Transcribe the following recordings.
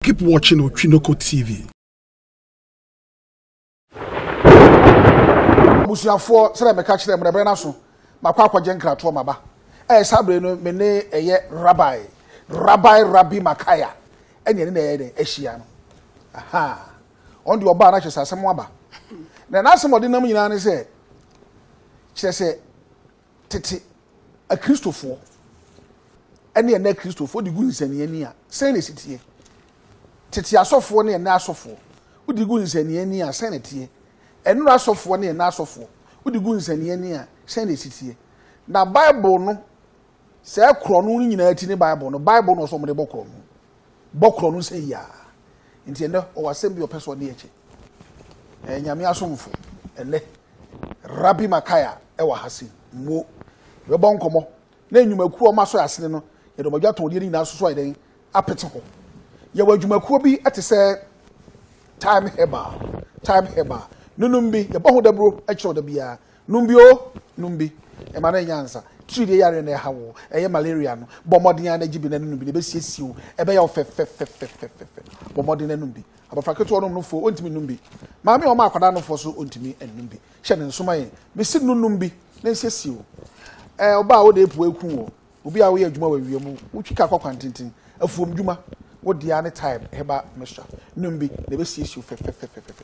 Keep watching Otwinoko TV. abusuafoɔ sɛdeɛ meka kyerɛ mu ɛberɛ no aso makɔ akɔgye nkratoɔ maba ɛyɛ saa berɛ no me ne ɛyɛ rabbi rabbi rabbi makaya ɛne ɛne na ɛyɛ dɛ ahyia no aha ɔno deɛ ɔbaa no akyɛ sɛ asɛm aba na n'asɛm ɔde nam nyinaa ne sɛ kyerɛ sɛ tete akristofoɔ ɛne ɛnɛ akristofoɔ de gu nsɛnniani a sɛn na ɛsi teɛ tete asɔfoɔ ne ɛnɛ asɔfoɔ wode gu nsɛnniani a sɛn na ɛteɛ ɛnora asɔfoɔ ne ɛnɛ asɔfoɔ wode gu nsɛnniani a sɛn na ɛsi teɛ na bible no Sɛɛ korɔno no nyinaa ti ne Bible no. Bible no ɔsɛ ɔmode bɔ korɔno. Bɔ korɔno sɛ yiaa. Nti ɛnɛ ɔwɔ asɛm bi ɔpɛ sɛ ɔde ɛkyɛ. Ɛyɛ nyame asomfo ɛnɛ. Rabbi Makaya ɛwɔ ha sei. Mmuo. Yɛbɛbɔ nkɔmɔ. Na nnwumakuo a ɔma sɔ asene no, yɛde ɔmadwa tɔndeɛ no nyinaa soso ayɛ dɛn? Apete hɔ. Yɛwɔ adwumakuo bi ɛte sɛ Time Herbal. Time Herbal. Nonom bi. Yɛbɔ ho daburo ɛkyerɛ ɔda biara. Nom bi oo, nom bi. Ɛma no nya nsa. Tiridie yareɛ na ɛha wo, ɛyɛ malaria no. Bɔ mmɔden ara na gye bi na nom bi na ɛbɛsiesie wo. Ɛbɛyɛ wo fɛfɛfɛfɛfɛfɛ. Bɔ mmɔden na nom bi. Abɔfra ketewa nom nofoɔ, ɔntumi nnom bi. Maame a ɔma akwadaa nofoɔ so ɔntumi nnom bi. Hyɛ no nso ma yɛn. Mese no nom bi na nsiesie wo. Ɛɛ ɔbaa wode apua aku wo. Obi a woyɛ adwuma wɔ awia mu, wotwi kaa kɔ kwantenten, afuom dwuma, wo deɛ ara ne time, herbal mixture. Nom bi na ɛbɛsiesie wo fɛfɛfɛfɛfɛ.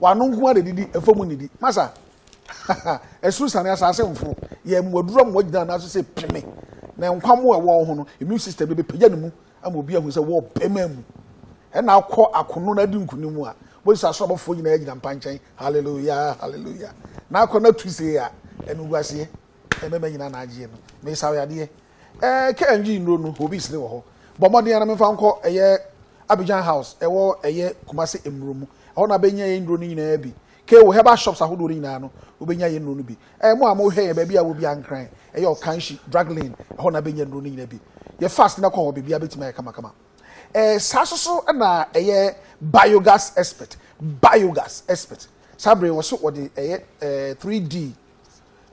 W'ano nko ara na edidi, ɛfam nnidi. Masa, haha, soro siane, asase mforo, yɛn mmoadura mmoa gyina nan so sɛ peme, na nkwa mmoa a ɛwɔ wo ho no, immune system no bɛpagya ne mu ama obi ahu sɛ wɔ bɛma mu. Ɛna akɔ akono na adi nkonim mu a, Moses aso abɔfoɔ nyinaa gyina mpa nkyɛn, hallelujah, hallelujah, na akɔ na tu sei a, animguaseɛ. Mmarima nyinaa na agyeɛ no. Mesa wo yadeɛ. Ɛɛ kɛ ngye nnuro no, obi sere wɔ hɔ. Bɔ mmɔden ara na memfa wo nkɔ ɛyɛ Abidjan House ɛwɔ ɛyɛ Kumasi mmuro mu. Ɛhɔ na bɛnya yɛn nnuro no nyinaa bi. Kɛ wo herbal shops ahodoɔ no nyinaa no, wobɛnya yɛn nnuro no bi. Ɛɛ mo a mohwɛ yɛn baabi a wɔ biara Nkran, ɛyɛ Okanshi, Drug Lane, ɛhɔ na bɛnya nnuro no nyinaa bi. Yɛ fast na kɔ hɔ, biribiara bɛtumi ayɛ kamakama. Ɛɛ saa nso so na ɛyɛ Biogas Expert, Biogas Expert. Saa berɛ yi wɔse wɔde ɛyɛ ɛɛ 3D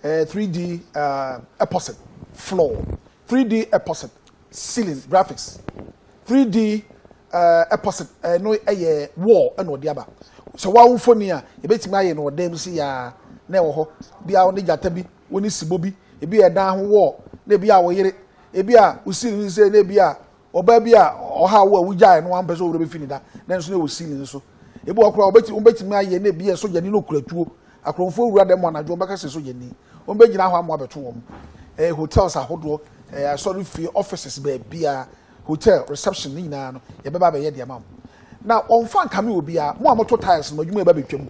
ɛɛ 3D ɛɛ epoxy floor, 3D epoxy ceiling graphics, 3D ɛɛ epoxy ɛno ɛyɛ wall ɛna ɔde aba. Sɛ wɔawo mfoni a, yɛbɛtumi ayɛ no ɔdan mu si yaa na ɛwɔ hɔ. Bi a wɔne gyata bi, wɔne sibɔ bi, ebi yɛ dan ho wall, na ebi a wo yere, ebi a wo siri no sɛ na ebi a Ɔbaa bi a ɔhaw wo a wogyae no wampɛ sɛ wo werɛ bɛfi ne da, nanso na ɛwɔ ceiling so. Ebi wɔ hɔ koraa wobɛti- wobɛtumi ayɛ na ebi yɛ sogyani na okura tuo. Akorɔmfoɔ wura dɛm anadwo wɔbɛka sɛ sogyani. Wɔbɛgyina hɔ ama wɔabɛto wɔn. Ɛyɛ hotels ahodoɔ, ɛyɛ asɔrefie, offices, baabiara, hotel, reception ne nyinaa no, yɛbɛba abɛyɛ de ama mo. Na wɔmfa nkame obiara. Mo a moto tiles no, mo adwuma reba abɛtwam.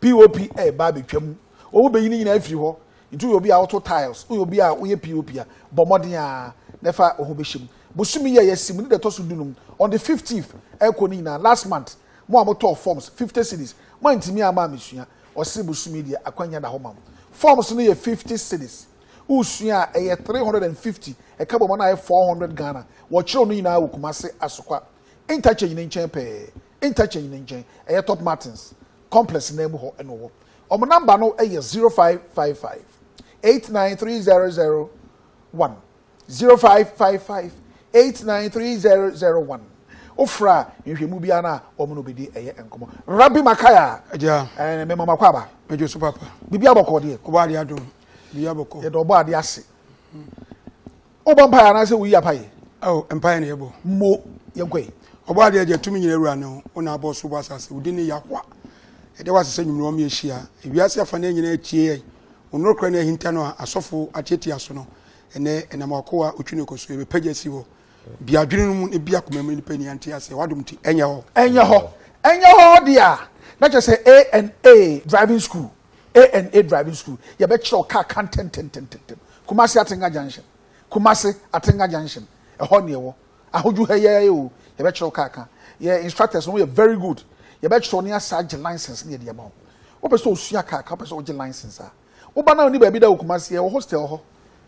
POP reba abɛtwam. Wɔbɛyi ne nyinaa afiri hɔ. Nti woyɛ obi a woto tiles, woyɛ obi a woyɛ POP a, bɔ mmɔden ara na fa wo ho bɛhyɛ mu. Bosome yi a yɛasi mu ne deɛ ɛtɔ so du no mu, on the fifteenth ɛrekɔ no nyinaa, last month, mo a motɔɔ forms, fifty cedis, moantumi amma ammɛsua, ɔse bosome yi deɛ akwanya da hɔ ma wo. Forms no yɛ fifty cedis, wosua a ɛyɛ three hundred and fifty, ɛka bɔ ma no ayɛ four hundred Ghana. Wɔkyerɛw ne nyinaa wɔ Kumasi Asokwa Interchange no nkyɛn pɛɛ. Interchange no nkyɛn, ɛyɛ Top Martins Complex nan mu hɔ na ɔwɔ. Wɔn namba no yɛ zero five five five eight nine three zero zero one zero five five five eight nine three zero zero one. Wofra nhwɛmu biara no a wɔn na obedi ɛyɛ nkɔmɔ. Rabbi Makaya. Ɛgya. Ɛɛ mɛma mo akɔ aba. Mɛgye so papa. Bibi abɔkɔ deɛ. Ɔbɔ adeɛ adum. Bibi abɔkɔ. Yɛda ɔbɔ adeɛ ase. Wobɔ mpaeɛ anaasɛ woyi apaye? Ao, mpaeɛ na yɛbɔ. Mo, yɛnkɔ yi. Ɔbɔ adeɛ agya, tumi nyina awura no, wo na abɔ ɔsoro bɔ asase, wo din ne Yahowa. Yɛda wo ase sɛ nwummerɛ wɔma yɛhyia. Ewiase afanaa nyina atie yɛn, wo norokorɛ no ahinta no a asɔfo atiatia so no. Ɛnnɛ, ɛnam w'akoa Otwineko so, yɛbɛpagya asi hɔ. Bue adwene no mu na bue akoma mu, nnipa nni ha nte aseɛ, w'adom nti, ɛnyɛ hɔ. Ɛnyɛ hɔ. Ɛnyɛ hɔ deɛ a, na kyerɛ sɛ ANA driving school A&A Driving School, yɛbɛkyerɛ wo kaa ka ntɛntɛntɛntɛm. Kumasi Atenga Junction, Kumasi Atenga Junction, ɛhɔ na yɛwɔ. Ahodwo ha yi ara yi o, yɛbɛkyerɛ wo kaa ka. Yɛn instructors no yɛ very good. Yɛbɛkyerɛ wo na yɛasan agye license na yɛde ama wo. Wopɛ sɛ osua kaa ka, wopɛ sɛ ogye license a, woba na wonni baabi da wɔ Kumasi, yɛwɔ hostel hɔ.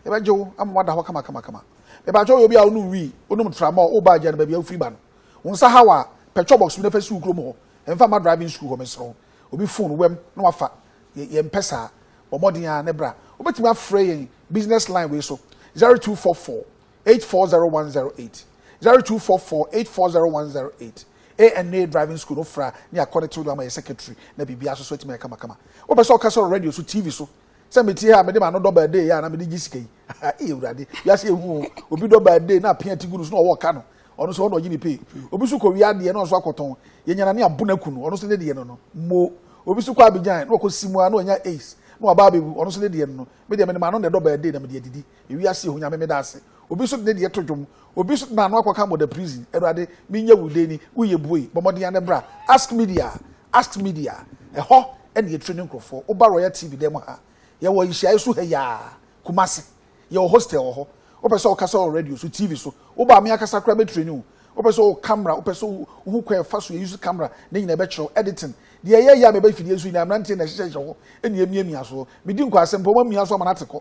Yɛbɛgye wo ama woada hɔ kamakamakama. Mepakyɛ woyɛ obi a wonom wii, wonom tramɔl, woba Agya no baabi a wofiri ba no, wo nsa haw a, pɛ chɔbɔks bi na fa si wo kurom hɔ. Mfa mma driving school hɔ, mesrɛ wo. obi phone wam na wafa, yɛmpɛ saa. Bɔ mmɔden ara na bra. Wobɛtumi afrɛ yɛn business line wei so, 0244 840108, 0244 840108. ANA Driving School no fra ne akɔ ne tew do ama yɛ secretary na biribiara nso so atumi ayɛ kamakama. Wopɛ sɛ ɔkasa wɔ radio so, TV so, sɛ mete ha a mede m'ano dɔ birthday yɛ a na mede gye sika yi ee awurade wiase ehu o obi dɔ birthday na apia ti gu no so na ɔwɔ ɔka no ɔno nso ɔna ɔgye ne pay obi nso kɔ wia adeɛ na ɔnso akɔtɔn yɛnyana ne abo na ku no ɔno nso ne deɛ no no mo obi nso kɔ abigyan na ɔkɔ si mu a na ɔnya ace na waba abɛwu ɔno nso ne deɛ no no me deɛ mede m'ano na ɛdɔ birthday na mede adidi Ewiase ho Nyame meda ase. Obi nso de ne deɛ to dwom. Obi nso de n'ano akɔka Murder Prison. Awurade, menyɛ wo dɛn ni? Wo yɛ bue. Bɔ mmɔden ara bra. Ask Media Ask Media Ɛhɔ na yɛtire ne nkurɔfoɔ. Woba Royal TV dan mu ha. Yɛwɔ nhyiaeɛ so ha yi ara, Kumasi. Yɛwɔ hostel wɔ hɔ. Wopɛ sɛ wokasa wɔ radio so, TV so. Woba a, me ankasa koraa mɛtraini wo. Wopɛ sɛ wo camera, wopɛ sɛ wohu kwan a ɛfa so yɛ use camera, ne nyinaa yɛbɛkyerɛ wo. Editing. Deɛ ɛyɛ yɛ a meba mfidie so nyinaa, mmeranteɛ na ɛhyehyɛhyehyɛ hɔ na ɛmiamia soɔ. Medi nkwasɛm pɛ, wɔamia so ama no ate kɔ.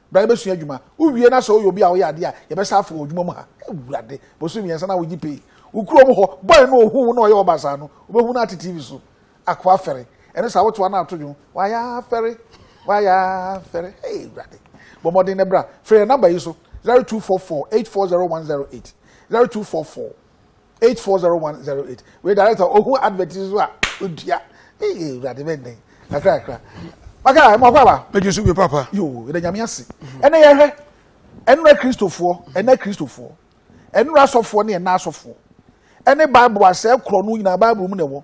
bra yɛbɛsua adwuma wowie na sɛ woyɛ obi a woyɛ adeɛ a yɛbɛsa afo wɔ adwuma mu ha awurade bosom mmiɛnsa na wogye pay wo kurom hɔ bɔe no ɔhu wo na ɔyɛ ɔbasaa no wobɛhu no ate tv so akoa fɛre ɛne saa wotoa no ato dwom wayɛ afɛre wayɛ afɛre hey awurade bɔ mmɔden na bra frɛ yɛ namba yi so 0244 840108 0244 eight four zero one zero eight wei director ohun advert yi so a odua ee ewurade bɛ nnɛ kakra kakra maka ɛmu akɔ aba. eju so bi papa. yoo yɛrɛ nyame ase ɛnna yɛ hwɛ ɛnura kristofoɔ ɛnna kristofoɔ ɛnura asɔfoɔ ne ɛnna asɔfoɔ ɛne baibu asɛ korɔ no nyinaa baibu mu na ɛwɔ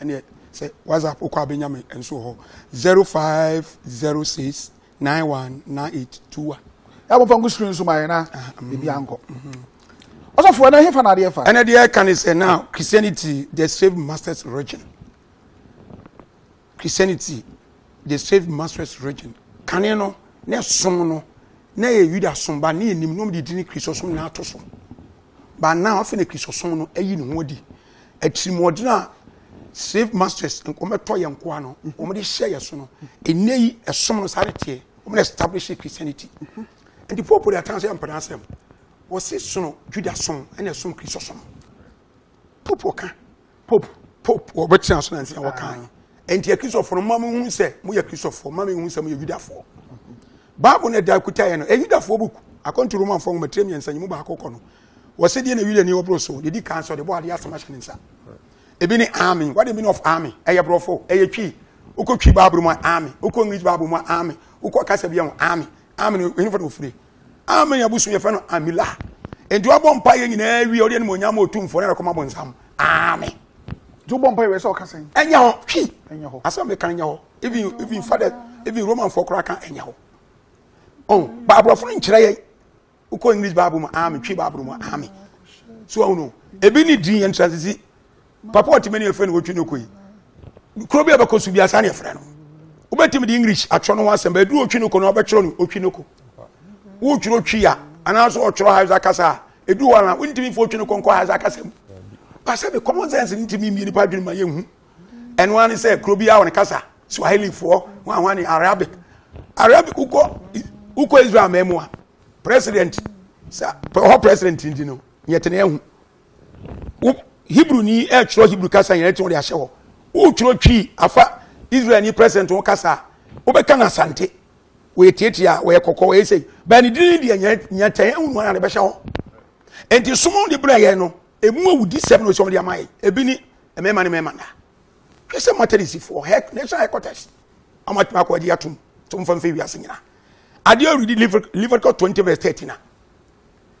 ɛneɛ sɛ whatsapp wokɔ a bɛnya me nso wɔ hɔ 0506 919821 yɛabɔmfa nko screen so ma yɛ na biribi ankɔ ɔsɔfoɔ ɛna hefa na adeɛ fa ɛna deɛ ɛka ne sɛ now christianity the slave masters religion christianity the slave masters religion kane no na ɛsom no na ɛyɛ yuda som ba ne yɛnim nom de dini kristosom na ato so But now afei na Kristosom no ayi ne ho adi. Atirimuɔden a slave masters wɔbɛtɔ yɛn nkoa no wɔde hyɛ yɛn so no ɛnɛ yi ɛsom no saa ne teɛ wɔn na establish Christianity nti popo de atan sɛ mpɛrɛ asɛm wɔsi sono Juda som ɛna ɛsom Kristosom popo ka Pope pope wɔbɛtena so na ntina wɔkae ɛnti akristofoɔ no ma mehu sɛ moyɛ kristofoɔ ma mehu sɛ moyɛ yudafoɔ bible no ɛda kutaeɛ no ɛyɛ yudafoɔ book akɔnto romanfoɔ nwoma tire mmiɛnsa nyi mu baako kɔ no wɔsɛ deɛ na yudani ɔboro so deɛ di kan sɛ ɔde bɔ adeɛ asɛm ahyɛ ne nsa ebi ne army what the meaning of army ɛyɛ borɔfo ɛyɛ twi wokɔ twi bible mu army wokɔ english bible mu army wokɔ kasa bi mu army army no ɛnyɛ fɔ na ofiri Amen yɛ bosom yɛfrɛ no amila nti wabɔ mpa yɛ nyinaa wie ɔde animonyam ɔtumfoɔ na ɛkɔma bonsam amen nti wobɔ mpa yɛ sɛ ɔka sɛn ɛnyɛ hɔ hwi ɛnyɛ hɔ asɛm meka no nyɛ hɔ even even father even romanfoɔ koraa ka ɛnyɛ hɔ ɔn baaborɔfo no nkyerɛ yɛ wokɔ english bible mu amen twi bible mu amen so ɔno ebi ne din yɛn transisi papa ɔte mani ɛfrɛ no wɔtwe no kɔ yi kuro bi a bɛkɔ so bi asa ne ɛfrɛ no wobɛtumi de english atwerɛ no ho asɛm bɛduru ɔtwe no kɔ no wabɛtwerɛ no ɔtwe no kɔ wotwerɛ twi ya anaasɛ ɔtwerɛ hausa kasa a ɛduru hɔ ana wontumi mfa ɔtwe no kɔ nkɔ hausa kasa mu pasɛ bi common sense no ntumi mmie nipa adwene ma yɛhu ɛno ara ne sɛ kuro bi a wɔne kasa swahilifoɔ wɔn ahoa ne arabic arabic wokɔ wokɔ israel mɛmu a president sɛ hɔ president nti no yɛtene ahu wo hebrew ni ɛtwerɛ hebrew kasa nyina ɛtwerɛ de ahyɛ hɔ wotwerɛ twi afa israel ni president ho kasa a wobɛka no asante wɔyɛ tiatia wɔyɛ kɔkɔ wɔyɛ sɛ bɛn ne dini deɛ nyɛ tɛn ɛhu no ara de bɛhyɛ hɔ nti som de brɛ yɛn no ɛmu awudi sɛm no sɛ ɔmde ama yɛ ebi ni mmarima ne mmarima nda hwɛ sɛ matarisifoɔ hɛ national headquarters amatumi akɔ agye atom to mfa mfa wiase nyina adeɛ ɔredi leviticus 20 verse 13 a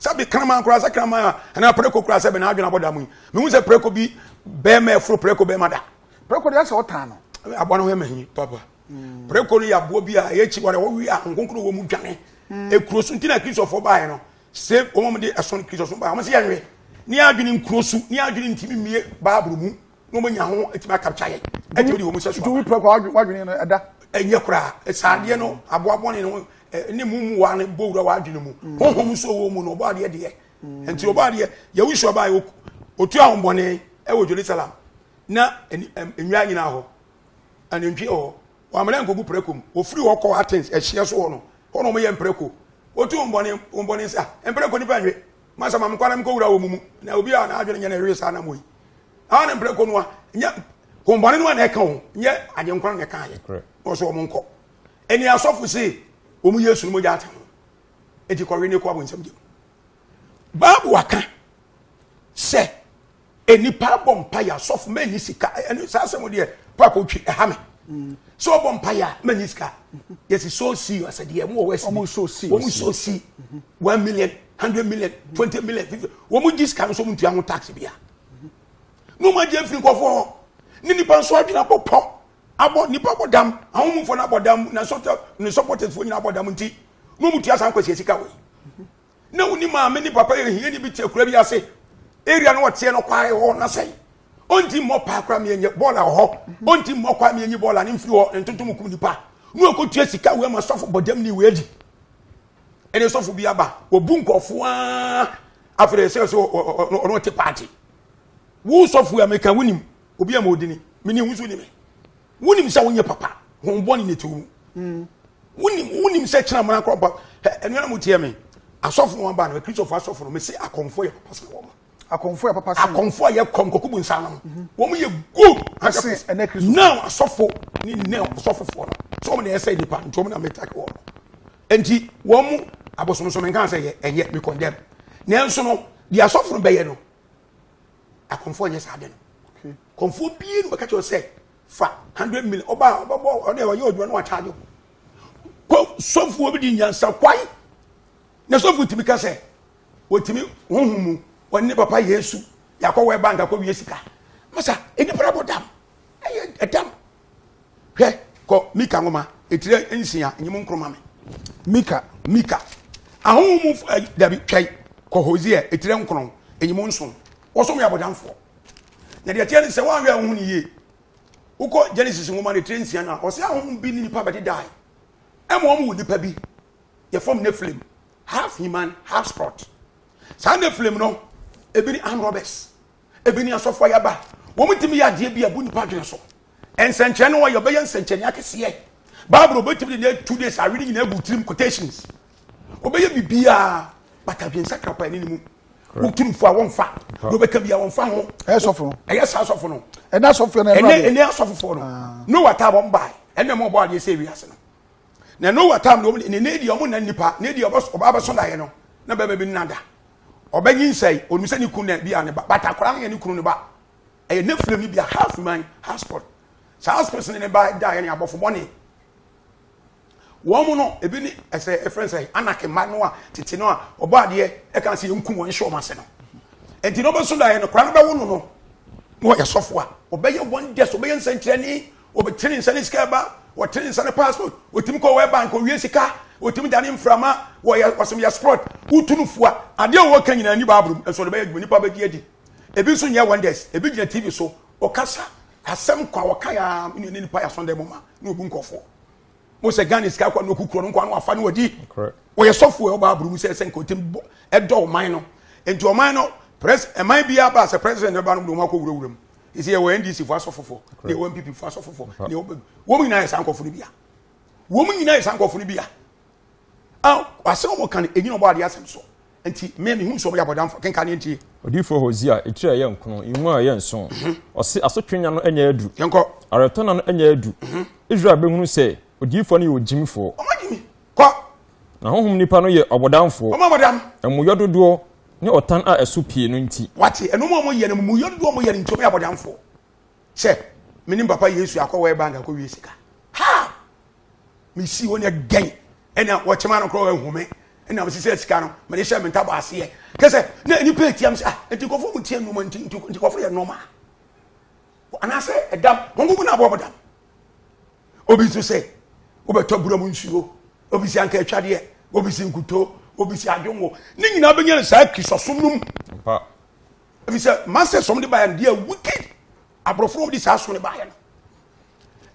Sɛbi kraman koraa sɛ kraman a anaa preko koraa sɛbi n'adwene abɔ da mu yi mehu sɛ preko bi bɛrima ɛforo preko bɛrima da. preko deɛ sɛ ɔtaa no. aboa no ho ɛma hi papa hmm. preko no yɛ aboa bi a ɛyɛ akyi wɔde wɔwe a nkonkoro wɔ mu dwane hmm. ekuro so nti na kristofoɔ baeɛ no sɛ wɔn de ɛso no kristofoɔ baeɛ wɔn sɛ yɛnwe ne adwene nkuro so ne adwene ntumi mmie baaburo mu na wɔn nya ho atumi akapkya yɛn atumi de wɔn sɛ so aba. duwi pɛrɛ wadwene no ɛda. ɛnyɛ koraa saadeɛ no aboabɔne no ne mu mu wa no bɔ wura wadwene mu mm. honhom nso wɔ mu no ɔbɔ adeɛ deɛ mm. nti ɔbɔ adeɛ yɛwusu aba yɛ otu ahombɔne ɛwɔ jerusalem na nnwa nyinaa hɔ anantwi hɔ wɔamena nkogu prɛko mu ofiri hɔ kɔ athens ɛhyeɛ so hɔ no hɔ na wɔyɛ mprɛko otu ahombɔne ahombɔne nsa mprɛko nipa nwe masa ma mekwana mekɔwura wɔ mu mu na obi a n'adwene nyɛ na ɛwee saa anamɔ yi a ne mprɛko no a nyɛ hombɔne no a na ɛka ho nyɛ agyenkwa na ɛka yɛ na ɔsɛ wɔn nkɔ ɛni asɔfo se wɔn yesu no mogya ate ho eti kɔwe ne kɔ abɔ nsɛm gyem baabu aka sɛ Nnipa abɔ mpaeɛ asɔfo mɛnyi sika ɛne saa asɛm deɛ papa otwi ɛha me sɛ ɔbɔ mpaeɛ a mɛnyi sika yɛsi so si yɔ asɛdeɛ ɛmu wɔ wɛsi wɔn so si wɔn so si one million hundred million twenty million fifty wɔn gyi sika no so wɔn ntua ho tax bia na wɔn agye afiri nkɔfoɔ hɔ ne nipa nso adwene abɔ pɔ abɔ nipa abɔ dam ahomufo no abɔ dam na sɔtɔ ne sɔpɔtɛfoɔ nyina abɔ dam nti na wɔn tua saa nkwasi sika wɔ yi. na woni maame ne papa yɛ hiani bi te akura bi ase area no wɔteɛ no kwae hɔ na sɛn ɔnti mmɔ paa kora meɛnyɛ bɔɔla wɔ hɔ ɔnti mmɔ kwaa meɛnyi bɔɔla ne mfiri hɔ ntonto mu kum nipa ne ɔkɔtua sika wei ma sɔfo bɔdam ne wei adi ɛne sɔfo bi aba wɔbu nkɔfoɔ a afei ɛsɛ sɛ ɔno ɔte paate wo sɔfo a meka wonim obi a ma ɔdini mene wo so ni me wonim sɛ wonyɛ papa hon bɔne ne tew mu mm. wonim wonim sɛ kyena mmara korɔ mpa ɛnua na mo tiɛ me asɔfo wɔn ba no akristofo asɔfo no mese akɔmfo yɛ papa sene wɔn akɔmfo yɛ papa sene akɔmfo a yɛ kɔm kɔkɔ bu nsa no mhm. wɔn yɛ good ase ɛnɛ kristofo now asɔfo ne ne asɔfofoɔ no so wɔn na ɛsɛ nipa nti wɔn na metake wɔn nti wɔn mu abosomsom nkan sɛ yɛ ɛnyɛ me condemn nanso no deɛ asɔfo no bɛyɛ no akɔmfoɔ nyɛ saa de no kɔmfoɔ bie no bɛka kyerɛ sɛ fa hundred million ɔba ɔbɛbɔ ɔde ɔyɛ ɔdwuma no wakyagye kɔ sɔfoɔ bi di nyansa kwae na sɔfoɔ tumi ka sɛ wɔtumi honhom mu wɔne ne papa yesu yɛakɔ wɔ bank akɔ wie sika masa nnipa abɔ dam ɛyɛ ɛdam Hwɛ, kɔ Mika nwoma etire nsia nyi mu nkoro ma me. Mika. Mika. Ahonhom mu fo eh, dabi twɛn kɔ Hosea etire nkron nyi mu nson. Wɔsom yɛ abɔdamfoɔ. Na deɛ ɛteɛ ne sɛ wɔanhwɛ a wohu ne yie. Wokɔ Genesis nwoma no etire nsia no a, ɔse ahonhom bi ne nipa bɛdedae. Ɛma wɔn wɔ nipa bi. Yɛfam Nephilim, half human, half spirit. Saa Nephilim no, ebi ne armed robbers. Ebi ne asɔfo a yɛaba. Wɔtumi yɛ adeɛ bi a ɛbu nnipa adwene so. Nsɛnkyerɛnne no wɔyɛ, wɔbɛyɛ nsɛnkyerɛnne akɛseɛ. Bible no wɔbɛtumi de ne two days awe ne nyinaa agu tirim quotations. Wɔbɛyɛ biribiara but adwene sakra paa ne ne mu. Wotu no fo a wɔmfa. Na wɔbɛka biara wɔmfa ho. Ɛyɛ sɔfo no. Ɛyɛ saa sɔfo no. Ɛnɛ asɔfoɔ no ɛnɛ ɛnɛ asɔfofoɔ no. Ah. Noah taa wɔn baa ɛnna wɔn bɔ adeɛ sɛ ewi ase no. Na Noah taa wɔn ne ne deɛ wɔn nna nipa ne deɛ ɔbɛso daeɛ no na bɛbɛ bi nna da. ɔbɛnyinsɛn, onim sɛ ne kunu na bi a ne ba, but akwadaa no yɛ ne kunu ne ba. Ɛyɛ Nephilim no bi a half man, half spirit. Saa half spirit ne ne ba da yɛ ne abɔfo bɔne. Wɔn no, ebi ne ɛsɛ ɛfrɛ sɛ anak mma no a tete no a ɔbɔ adeɛ ɛka sɛ yɛn kum wɔn hyɛ wɔn ase no. Nti na ɔbɛso da yɛ no, koraa no bɛwo no no, na ɔyɛ sɔfo a, ɔbɛyɛ wɔn dɛs, ɔbɛyɛ nsɛnkyerɛnne, Wɔbɛte ne nsa ne sika ɛba, wɔte ne nsa ne passport, wɔtumi kɔ World Bank, wɔwie sika, wɔtumi dane mframa, wɔyɛ wɔsɛm yɛ sport, wotu no fua. Adeɛ a wɔka nyinaa ni Bible mu, nso wɔde bɛyɛ adwuma, nnipa bɛgye adi. Ebi nso nyɛ wonders, ebi gyina TV so, ɔkasa, asɛm kwa wɔka yɛ a, ne nipa yɛ asɔndɛ mu ma, ne obu nkɔfoɔ. Mo sɛ Ghana sika kɔ na ɔkukurɔ no nkwa no wafa no wadi. Wɔyɛ sɔfoɔ ɛwɔ Bible mu sɛ ɛsɛ nka ɔtumi bɔ ɛdɔ ɔman no. Nti ɔman no, pres, ɛman biara ba sɛ president no ba no, wɔn akɔ wurawura mu. ɛsɛ yɛwɔ ndc fo asɔfo fo na yɛwɔ npp fo asɔfo fo na yɛwɔ wɔn nyinaa yɛ saa nkɔfo no bia wɔn nyinaa yɛ saa nkɔfo no bia a asɛm wɔn kan ɛnyina ɔbɔ adeɛ asɛm so nti mmea mehu nsuo yɛ abɔdamfo kenka ne ntie odiyifoɔ hosea ɛtiri a ɛyɛ nkono nwu a ɛyɛ nso mhm. ɔse asotwe nya no ɛnyɛ adu yɛnkɔ awerɛtɔna no ɛnyɛ adu mhm. israel bɛhunu sɛ odiyifoɔ no yɛ ogyimifoɔ Kɔ! Na honhom nipa no yɛ ɔbɔdamfoɔ. Wɔn a wɔdam. Amumuyɔ dodoɔ ne ɔtan a ɛso pii no nti. Wate, ɛno mu a wɔyɛ no, amumuyɔ dodoɔ a wɔyɛ no nti, wɔyɛ abɔdamfoɔ. Sɛ, me ne me papa Yesu akɔ World Bank akɔwie sika. How? Mesii hɔ ne ɛdɛn? Ɛna wɔkyema no korɔ ahu me. Ɛna mesesɛ sika no, mede hyɛ me ntaba aseɛ. Kyɛ sɛ, na nnipa atia me sɛ, ah, nti nkɔfoɔ mu ntia nnwuma nti, nti nkɔfoɔ yɛ normal. Anaasɛ ɛdam, wɔn nkonko na abɔ wɔn dam. obi nso sɛ wobɛtɔ bura mu nsuo obi si anka atwadeɛ obi si nkutoo obi si adwonwo ne nyinaa bɛnya no saa kristosom no mu ɛfiri sɛ masters ɔm de baeɛ no deɛ wicked aborɔfo no ɔm de saa so no baeɛ no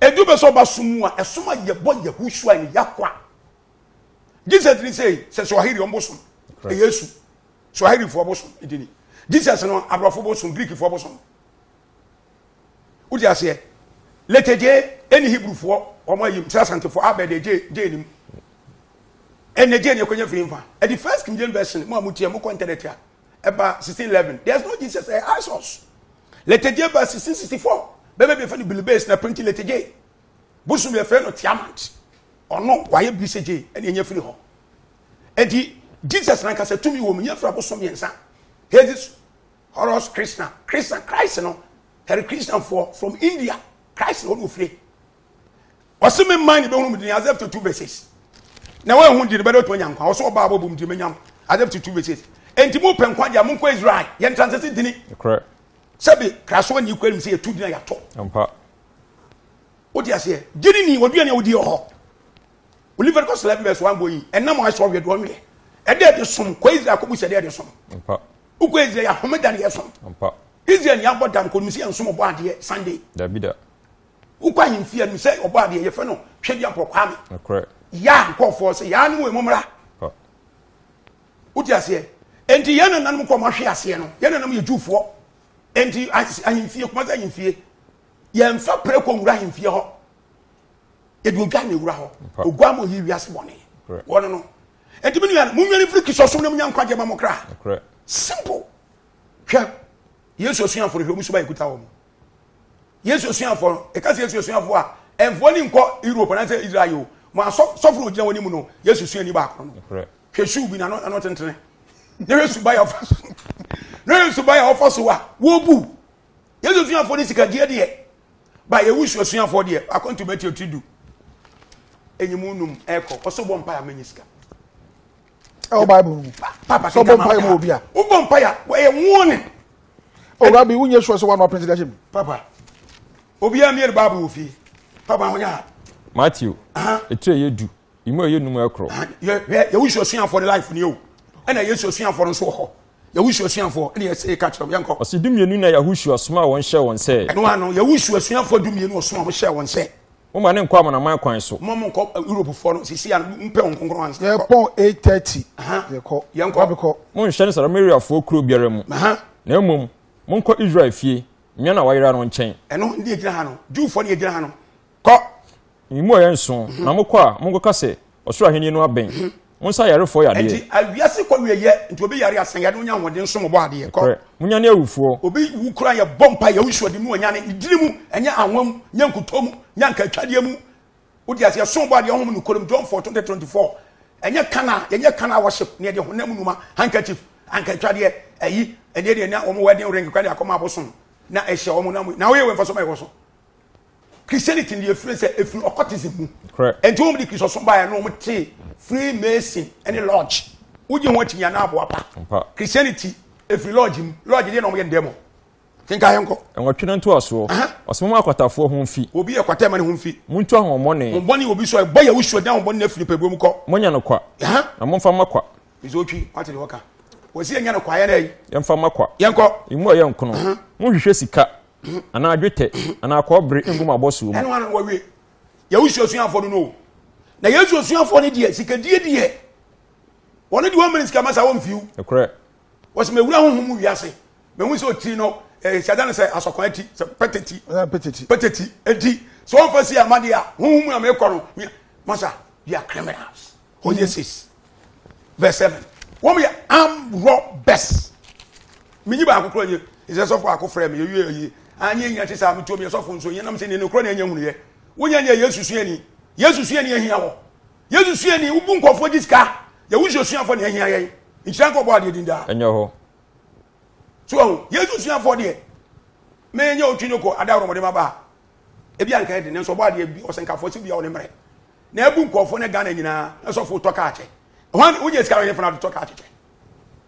ɛdu bɛ sɛ ɔba som mu a ɛsom a yɛbɔ yɛhosua ne yɛakoa jesus ni sɛ sɛ swahili ɔm bosom ɛyɛ su swahilifoɔ bosom ɛdini jesus no aborɔfo bosom greekfoɔ bosom Wode aseɛ? Letegyee ɛne Hebrewfoɔ wɔn a yɛm sɛ Asantefoɔ abɛ deɛ gyee gyee nim. Ɛnɛ gyee ne ɛkɔnya firi mfa. Ɛde First King James Version mo a motie mokɔ internet a ɛba 1611 there's no Jesus ɛyɛ Isos. Letegyee ba 1664 bɛma bi ɛfɛ no Bilibase na printi Letegyee. Bosom bi ɛfɛ no Tiamant. Ɔno wayɛ biri sɛ gyee ɛne ɛnya firi hɔ. Ɛnti Jesus nankasa tumi wɔ mu nyɛ firi abosom mmiɛnsa. Hades Horus Krishna, Krishna, Christ no, Hare Krishna foɔ from India, Christ na ɔno ofire. Ɔsi mi mmaa ni bɛ hunu mi di ni as if to two verses. Na wɔn ehun di ni bɛ de otu anya nkwa, ɔsɔ ɔbaa bɔ bom di mi nyam as if to two verses. Enti mo pɛ nkwa di a mo nkɔ Israel, yɛn ntransɛsi di ni. Korɛ. Sɛbi kraso ni kura mi sɛ yɛtu di na yɛatɔ. Mpa. O ti aseɛ, di ni ni, ɔdua ni a ɔdi ɔhɔ. Oliver kɔ sɛlɛ bi bɛ so wɔn bɔ yi, ɛnam wɔn ahyɛ ɔwɛ do ɔnwɛ. Ɛdɛ ɛde som, kɔ Israel kɔ bu sɛ ɛdɛ ɛde som. Mpa. wokɔ israel yɛ ahomeda ne yɛsom israel ni abɔ da nkɔnim sɛ yɛnsom ɔbɔ adeɛ sunday dabi da wokɔ ahemfie anim sɛ ɔbɔ adeɛ yɛfrɛ no twɛdi apɔkwaa me yaa nkɔɔfoɔ sɛ yaa ne wɔ mu mmra wote aseɛ enti yɛn nananom kɔ mahwe aseɛ no yɛn nananom yɛ jufoɔ enti ahemfie kuma sɛ ahemfie yɛmfa prɛ kɔ nwura ahemfie hɔ yɛde odwa ne wura hɔ ogwa ma ɔyi wiase bɔne wɔno no Enti me nua, monnwane mfiri Kristo som na munya nkwagyeɛ ma mo kra. Simple. Hwɛ, Yesu asuafoɔ no hwɛ, wɔn suban ɛkuta wɔn. Yesu asuafoɔ no, ɛka sɛ Yesu asuafoɔ a, ɛmfoɔ ne nkɔ Europe anaasɛ Israel o, mo asɔfo no gyina wɔn anim no, Yesu suani baako no. Hwɛ suu bi na ano tentene. Na hwɛ suban a ɔfa so. Na hwɛ suban a ɔfa so a, wɔbu. Yesu suafoɔ no sikagyeɛ deɛ ba yɛwu su asuafoɔ deɛ akwantu bɛti ɔtiri du ɛnyi mu num ɛkɔ ɔsɔ bɔ mpa yɛ mɛnyi sika ɛwɔ bible mu papa sɔ bɔ mpa yɛ mu obi a wobɔ mpa yɛ ɛyɛ wɔne owura bi wonyɛ sure sɛ woano apɛnti da hyɛ mu papa obiaa mmiɛ no bible wɔ fie papa ho nyɛ ha matthew ɛtiri ɛyɛ du Imu ɛyɛ num ɛkoro. Ah, Yehosu asuafoɔ ne life ni o. Ɛna Yesu asuafoɔ no nso wɔ hɔ. Yehosu asuafoɔ ɛna yɛsɛ yɛka kyerɛ yɛn kɔ. Ɔsi dumienu na Yehosu asoma a wɔn hyɛ wɔn sɛ. Ɛno ano Yehosu asuafoɔ dumienu ɔsoma a wɔn hyɛ wɔn sɛ. Mo ma ne nkɔ amanaman kwan so. Mo mo nkɔ eh, Europe foɔ no sisi a mo mpɛ wɔn nkonkron ansa. Yɛ pɔn eight thirty. Yɛ kɔ. Yɛn kɔ. Mo nhyɛ ne Samaria foɔ kuro biara mu. Na mmom mo nkɔ Israel fie mmea na wayera no nkyɛn. Ɛno ne egyina ha no Jewfoɔ ne egyina ha no. Kɔ! Mmuaeɛ nso, na mokɔ a, monkɔka sɛ, Ɔsoro Ahennie no abɛn. Monsa ayarefoɔ yadeɛ. Enti awiase kɔ wieyɛ, nti obi yare a, sa yadeɛ, wonya ahoɔden nso, mobɔ adeɛ. Kɔ! Nokorɛ, monyane awufoɔ. Obi wu koraa a, yɛbɔ mpaeɛ, wo nsuo de no ɔnyane, edini mu, ɛnyɛ anwa mu, nyɛ nkutoo mu, nyɛ ankaatwadeɛ mu. Wote aseɛ? So wobɔ adeɛ a, honhom nokorɛm, John four twenty twenty four, ɛnyɛ kan a, yɛnyɛ kan a worship, na yɛde honam nnwuma, handkerchief, ankaatwadeɛ, ayi, ɛdeɛ deɛ na wɔn wedding ring koraa de akɔma abosom, na ɛhyɛ wɔn, na woyɛ wei mfasoɔ bɛn wɔ so? christianity no yɛfiri sɛ ɛfiri occultism mu ɛnti wɔm de kristosom baeɛ no wɔm te free mason ɛne lodge wogye ho akyinya na aboa pa christianity ɛfiri lodge mu lodge deɛ na wɔyɛ ndɛmɔ kenka yɛ nkɔ ɛnwɔtwe no ntoasoɔ ɔsoma mu akwatafoɔ ho mfi obi yɛ kwata ma ne ho mfi montu ahoɔmmɔne hommɔne obi so ɛbɔ yɛ wosuo dan hommɔne no afiri pɛbuo mu kɔ monya no kwa na momfa ma kwa ɛsɛ ɔtwi wate de wɔka wɔsi yɛnya no kwa yɛn dɛ yɛmfa ma kwa yɛnkɔ ɛmu a yɛnkono monhwehwɛ sika anaa dwetɛ anaa kɔɔbere ngu m'abɔsoɔ mu. ɛno ano wɔwie yɛwosu asuafoɔ no no na yesu asuafoɔ no deɛ sikadie deɛ wɔne deɛ wɔmmene sika ma saa wɔmfiw ɛkorɛ wɔsɛ mawura honhom mu wiase mahu sɛ ɔtiri no eh, siada no sɛ asɔkwan ati sɛ pɛtɛti pɛtɛti pɛtɛti ɛti sɛ wɔmfa si amadeɛ a honhom mu a meekɔ no masa they are criminals Hosea 6 verse 7 wɔn yɛ arm robbers menyi baako kora nye ɛsɛ sɔfo ako frɛ me yɛwie ayi anyɛ nya te saa metuo meyɛ sɔfo nso yɛnam sɛ nene korɔ na ɛnyɛ hunuyɛ wonya nyɛ yesu suani yesu suani ahia wɔ yesu suani wobu nkɔfoɔ gye sika yɛwosuo suafoɔ ne ahia yɛn nhyira nkɔ bɔ adeɛ din daa ɛnyɛ hɔ so ɔho yesu suafoɔ deɛ menyɛ otwi no kɔ ada worɔmɔde ma baa ebi anka ɛde nanso ɔbɔ adeɛ bi ɔsɛnkafoɔ sɛ bia ɔne mmerɛ na abu nkurɔfoɔ ne Ghana nyinaa na sɔfo tɔ kaa kyɛ hwan wogye sika wɔ hefa na tɔ kaa kyekyɛ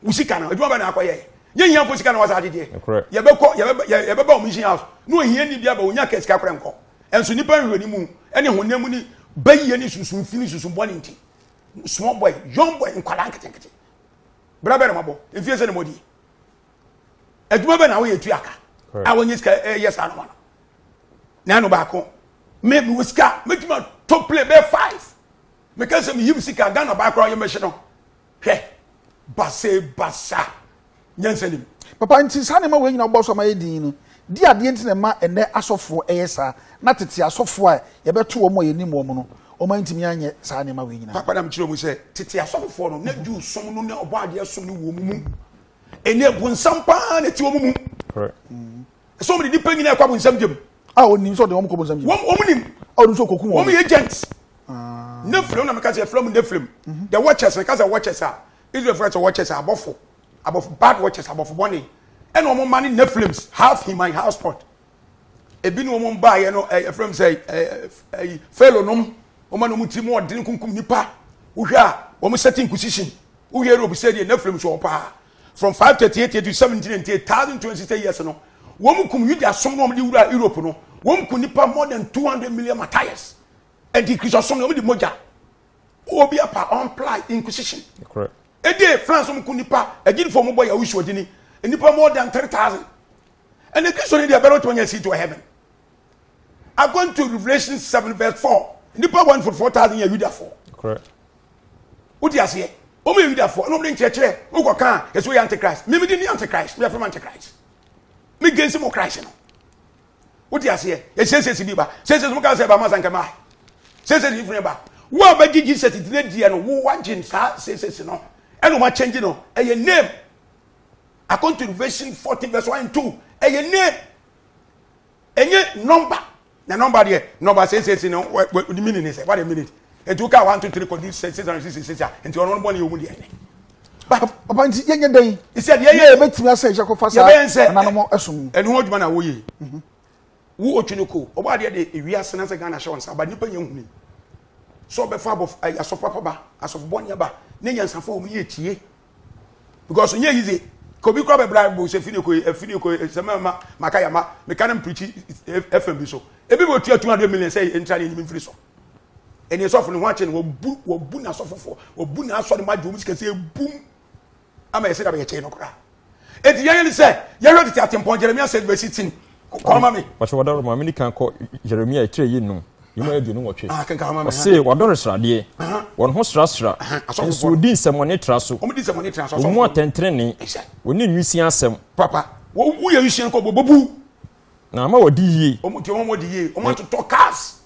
wo sika no adwuma bɛ na akɔyɛ nyɛ hiafo sika na wasa agyegyeɛ yɛbɛkɔ yɛbɛba wɔn mission house na ohia ni bi aba onya ka sika kora nkɔ ɛnso nipa nhwɛ ne mu ɛne honam mu ne bɛyɛ ne susun fi ne susun bɔ ne nti small boy young boy nkwadaa nketenkete berɛ bɛrɛ mabɔ mfie sɛ ne mɔdie adwuma bɛ na woyɛ tua ka a wɔnyɛ sika eh, yɛ saa no ma no na ɛno baako me mewɔ sika mɛtumi atɔ plane bɛyɛ five meka sɛ meyim sika ghana baa koraa yɛmɛhye no hwɛ base basa nyansa nim papa nti saa nneɛma wei nyina wobɔ so ama yɛ din no di adeɛ nti na ɛma ɛnɛ asɔfoɔ ɛyɛ saa na tete asɔfoɔ a yɛbɛto wɔn a yɛnim wɔn no wɔn antumi anyɛ saa nneɛma wei nyina papa nam kyerɛ mu sɛ tete asɔfoɔ no na juu som no ne ɔbɔ adeɛ som no wɔ mu ɛni ɛbonsam paa na ɛti wɔn mu ɛsɛ wɔn de nipa nyinaa ɛkɔ abonsam gyam a wɔn nim sɛ ɔde wɔn kɔ abonsam gyam wɔn wɔn nim a wɔn nso kɔkum wɔn wɔn yɛ agent ah. ne filim na meka sɛ filim ne filim mhm. the watchers meka sɛ watchers a israel fura sɛ watchers a abɔfo abɔfo bad watchers abɔfo bɔne ɛna wɔn ma ne ne filims half in my house pot ebinom wɔn baayɛ no ɛyɛ fɛm sɛ ɛɛ ɛyi fɛlo nom wɔn a wɔn ti mu ɔdini kunkum nipa wohwɛ a wɔn sɛti nkusisin wohwɛ europe sɛ deɛ nefilm so paa from five thirty eight to seventeen and eight thousand twenty six years no wɔn kum yuda som na wɔn de wura europe no wɔn kum nipa more than two hundred million matthias ɛdi kristu som na wɔn de mogya obi apa ɔmply inquisition ɛdi france wɔn kum nipa ɛgyinifo wɔn bɔ yahusu ɔdini nipa more than three thousand. ɛnna kristo ni deɛ ɛbɛrɛ ɔtɔn yɛ seat wɔ heaven according to revolution seven verse four nipa one for four thousand yɛ yudafoɔ wodi aseɛ wɔn yɛ yudafoɔ ɛna wɔn de nkyerɛkyerɛ wɔn kɔ kan yɛ so yɛ antichrist mímí di ni antichrist mi yɛ fɛn antichrist mi gɛnsi mo christ no wodi aseɛ yɛ sɛsɛsi bi ba sɛsɛsi mo kan sɛ ɛba mo asan kɛmɛ sɛsɛsi yi funu ba wo a bɛgye jesus di ne deɛ no wo wagye saa sɛsɛsi no ɛna wɔn akyɛngye no ɛyɛ name. Akwantu Revelation fourteen verse one and two ɛyɛ name ɛnyɛ number na number deɛ number six six na ɔdi minute ne sɛ what a minute nti o ka one two three kɔ di six hundred sixty six a nti ɔno bɔ ne yɛ omu deɛ ɛnɛ. papa nti yɛn nyɛ dɛn. sɛ deɛ yɛ yɛ bɛ tumi asɛ ɛhyɛ kɔfa saa ɛnanam ɛso mu. ɛnu ho adwuma na awo yie mhm. wo otwi ne ko ɔbɔ adeɛ de ewi ase na sɛ ghana hyɛ wɔn nsa aba nipa nyɛ nhuni sɛ ɔbɛfa asɔfo papa ba asɔfo bɔ ne ba ne nyansafo wɔn yɛ tie. because nye yize kobi kura bɛ bribe bo se fini ko ye fini ko ye se me ma maka ya ma me ka ne mprichi fm bi so ebi bo tua 200 million se entra ne enyim mfiri so ene esɔfo ne ho akye ne wɔbu wɔbu na asɔfofo wɔbu na asɔre ma gye wɔn sikasɛ ebum ama yɛsɛ da bɛyɛ kyɛn no koraa Eti yɛyɛ ne sɛ yɛhwɛ tete atempɔn Jeremia said verse 18 kɔɔ ma me. Wɔhyɛ wɔdɔre ma mene kan kɔ Jeremia etire yi nnum yɛmu aduonu nwɔtwe. Ah, Ɔse wɔdɔre sradeɛ, uh-huh. wɔn ho srasra, uh-huh. nso wɔdi nsɛmmɔne tra so, wɔn mu atɛntenene, wɔne nwisian asɛm. Papa, wɔyɛ nwisian kɔ bɔbɔbu. Na ama wɔdi yie. Wɔn ti wɔn wɔdi yie, wɔn atotɔ cars.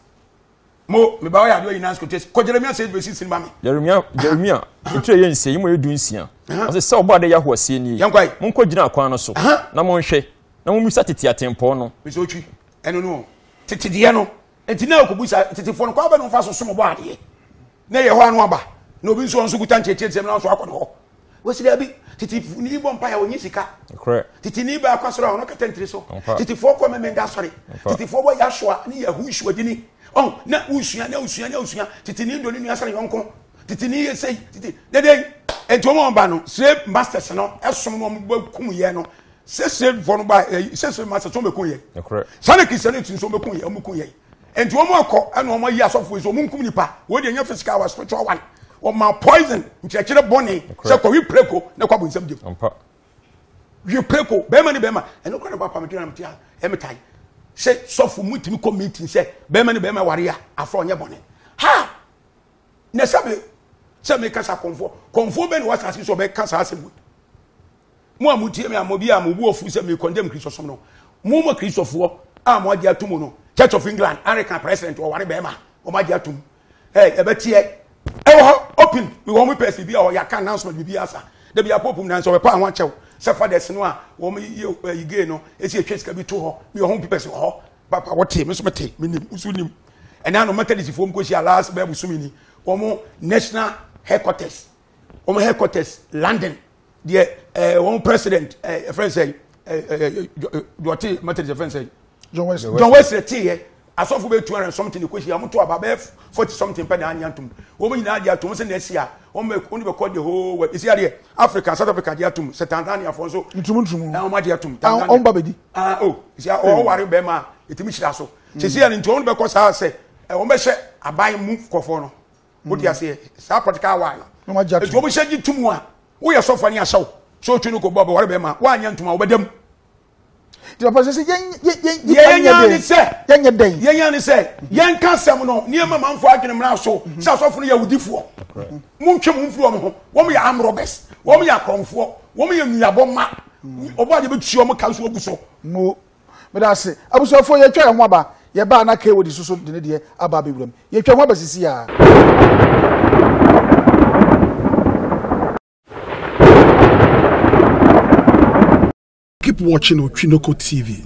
mo me ba ɔyɛ adeɛ ɔyɛ nansi kotes kɔ jeremia sɛ ebesi sin ma mi. jeremia jeremia etu yɛ nsia yi mo yɛ du nsia ɔsɛ sɛ ɔbɔ adeɛ yahu aseɛ nie mo nkɔ gyina akwan no so na mo nhwɛ na mo misa tete atempɔn no. bisi otwi ɛno no tete deɛ no nti na okobu sa tete fo no kɔ abɛ no nfa so som bɔ adeɛ na yɛ hɔ ano aba na obi nso ɔnso kuta nkyɛnkyɛn nsɛm na ɔnso akɔ ne hɔ. Wɔsi daabi. Tete ni bɔ mpaeɛ a ɔnyi sika. Tete ni baa akwa soro a ɔno kata ntiri so. Tetefoɔ kɔ mmemmenda asɔre. Tetefoɔ bɔ Yahshua ne Yahushua dini. Ɔn na wosua na wosua na wosua. Tete ni dɔ ne nua sɛne yɔnko. Tete ni yɛ sei. Tete ne dɛn. Enti wɔn a wɔba no slave masters no ɛsom no wɔn bɛ kum yɛ no. Sɛ slavefoɔ no ba ɛ sɛ slave masters wɔn bɛ kun yɛ. Saa na kristiani ti nso wɔn bɛ kun yɛ wɔn bɛ kun yɛ. Enti wɔn akɔ ɛna wɔn ayi asɔfo yi so wɔn nkum nipa wɔn deɛ nyɛ physical wa spiritual one wɔn ma poison nkyerɛkyerɛ bɔne sɛ kɔ wi preko na kɔ abonsam gyem wi preko bɛrima ne bɛrima ɛno kora ne ba pam gyina mtia ɛmi tae sɛ sɔfo mu tumi kɔ meeting sɛ bɛrima ne bɛrima wari a afɔ ɔnyɛ bɔne ha na sɛbi sɛ mi kasa kɔnfoɔ kɔnfoɔ bɛ ne wa saasi sɛ ɔbɛ kasa asɛm wɔ. Mo a motie me a mo bi a mo bu afu sɛ me condemn Kristosom no, mo mo Kristofoɔ a mo agye atum no, Church of England, Anglican president wɔware bɛrima wɔn agye atum. Ɛɛ ɛbɛteɛ ɛwɔ hɔ open because wɔn pɛs biribi a wɔyɛ aka announcement biribi asa. Dabi a pope mu na nso wɔpɛ a ho akyɛw sɛ fathers no a wɔn yi ɛyi gay no esi etwe sika bi to hɔ bi wɔ ho pipɛs wɔ hɔ. Papa wɔte me so mete me nim nso nim ɛnna ano methodistfoɔ mu kɔhyia last bɛɛbo sumi ni wɔn national headquarters wɔn headquarters London deɛ ɛɛ eh, wɔn president ɛɛ eh, ɛfɛn sɛ ɛɛ dɔte methodist ɛfɛn sɛ john wesley john wesley ti yɛ asɔfo bɛ two hundred and something kò si yɛ wɔn to aba bɛɛ forty something pɛ na anya ntom wɔn nyinaa di atom sɛ na esi a wɔn bɛ wɔn bɛ kɔ de hoo wɛ esi adeɛ africa south africa di atom sɛ tanzania fɔ nso ntumu ntumu ɛn wɔn adi atom tanzania wɔn ba bɛ di ah o oh, esi a ɔwɔware bɛɛ ma etimi hyira so sisi yɛ ne nti wɔn bɛ kɔ saa sɛ wɔn bɛ hyɛ aban mu kɔfɔ no. o ti aseɛ saa pɔtikaa waa no nti wɔn hyɛ gye tum a woyɛ sɔfo ne ahyɛw so otwi no kɔ bɔ ɔbɛwɔre bɛrima woanyɛ ntoma ɔbɛdam papa sɛ yɛnya ne sɛ yɛnyɛ dɛn yɛnya ne sɛ yɛnka asɛm no nneɛma manfo adwene mmra so sɛ asɔfo no yɛ awudifoɔ montwe mo mfiri wɔn ho wɔn yɛ arm robbers wɔn yɛ akorɔmfoɔ wɔn yɛ nnuabɔ mma ɔbɔ adeɛ bɛtua wɔn ka so agu so Meda ase. Abusuafoɔ, yɛatwa yɛn ho aba. Yɛbaa na Kay Wodeso so de ne deɛ aba abɛwura mu. Yɛatwa ho aba sisi a. Keep watching Otwinoko TV.